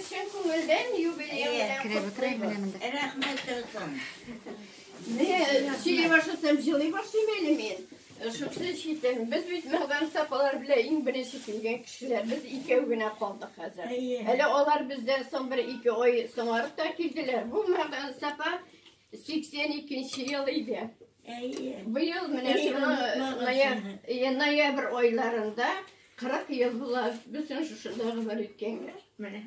Чын күңелдән юбилей белән котлыйбыз. Рәхмәт язсын. Менә сөйли башласам, җылый башлыйм әле мин. Шусы читен. Без бит мәгдан сапалар белән иң беренче килгән кешеләр. Без икәү генә калдык хәзер. Әле алар бездән соң бер ике ай соңарып та килделәр. Бу мәгдан сапа 82 ел иде. Әйе. Быел менә шуны ноябрь айларында 40 ел була бөтен шушында гомер иткәнгә. Менә.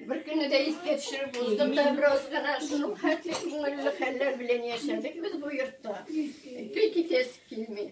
Бер көнне дә искә төшереп уздым да бераз гына шуның хәтле күңелле хәлләр белән яшәдек без бу йортта. Көй китәсе килми.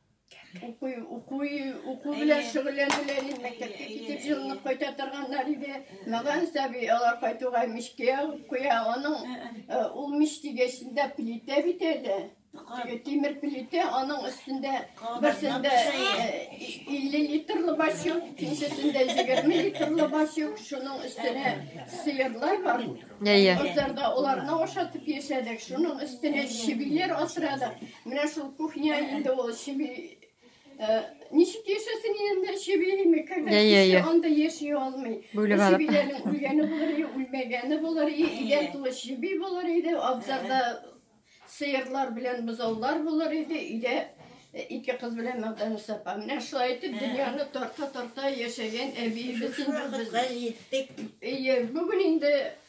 Уку, уку, уку белән шөгыльләнделәр инде, мәктәпкә китеп җылынып кайта торганнар иде. Мәгән сәби алар кайтуга мичкә куя, аның ул мич дигәчендә плитә бит әле. Тимер плитә, аның өстендә берсендә 50 литрлы бачок, икенчесендә 20 литрлы бачок, шуның өстенә сыерлар бар. Әйе. Озарда оларны ашатып яшәдек, шуның өстенә чебиләр асрадык. Менә шул кухня инде ул чеби. Э, ничек яшәсен инде чебиме? Когда yeah, yeah, yeah. анда яши алмый. Бүлеп алып. Чебиләрнең үлгәне булыр, үлмәгәне булыр, идән тулы чеби булыр иде, абзарда сыерлар белән бозаулар булыр иде, өйдә э, ике кыз белән мәгъдәне сапа. Менә шулай итеп дөньяны тарта-тарта яшәгән әбиебез инде без. Җиттек. Әйе, бүген инде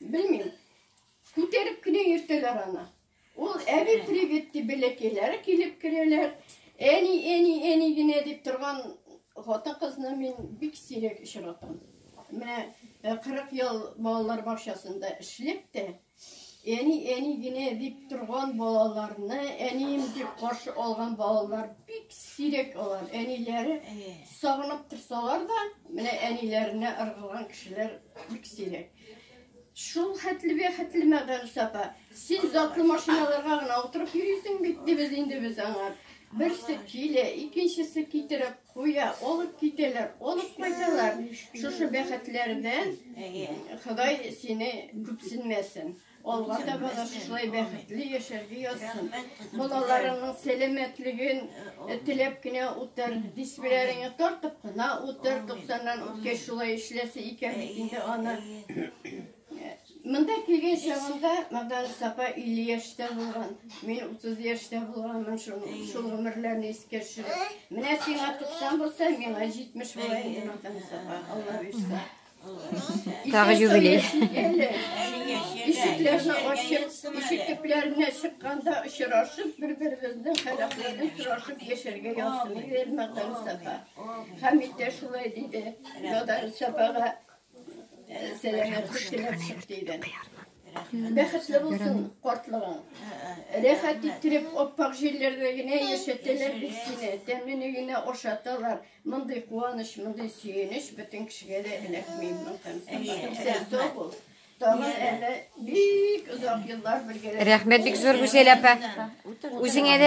Белмим. Күтәреп кенә йөртәләр аны. Ул әби привет дип бәләкәйләре килеп керәләр. Әни, әни, әни генә дип торган хатын кызны мин бик сирәк очратам. Менә 40 ел балалар бакчасында эшләп тә әни, әни генә дип торган балаларны әнием дип каршы алган балалар бик сирәк алар. Әниләре Сагынып торсалар да, менә әниләренә ыргылган кешеләр бик сирәк. Шул хәтле бе хәтле мәгәрис апа. Син затлы машиналарга гына утырып йөрисең бит, дибез инде без аңа. Берсе килә, икенчесе китереп куя, алып китәләр, алып кайталар. Шушы бәхетләрдән Ходай сине күпсенмәсен. Алга таба да шулай бәхетле яшәргә язсын. Балаларыңның сәламәтлеген теләп кенә утыр, дисбиләреңне тартып кына утыр, 90-нан үткәч шулай эшләсе икән бит инде аны. Монда килгән чагында Магдан Сапа 50 яшьтә булган, мин 30 яшьтә булганмын, шул шул гомерләрне искә төшереп. Менә сиңа 90 булса, миңа 70 була инде Магдан Сапа, Алла бирсә. Тагы юбилей. Ишекләрне ачып, ишек төпләренә чыкканда очрашып, бер-беребезнең халәтләрен сорашып яшәргә язсын иде Элмагдан Сафа. Хәмит тә шулай диде. Надар Сафага сәламәтлек теләп чык диде. Бәхетле булсын картлыгың. Рәхәт иттереп, аппак җилләрдә генә яшәтәләр бит сине, тәмле генә ашаталар. Мондый куаныч, мондый сөенеч бөтен кешегә дә эләкми. Рәхмәт бик зур, Гүзәл апа. Үзеңә дә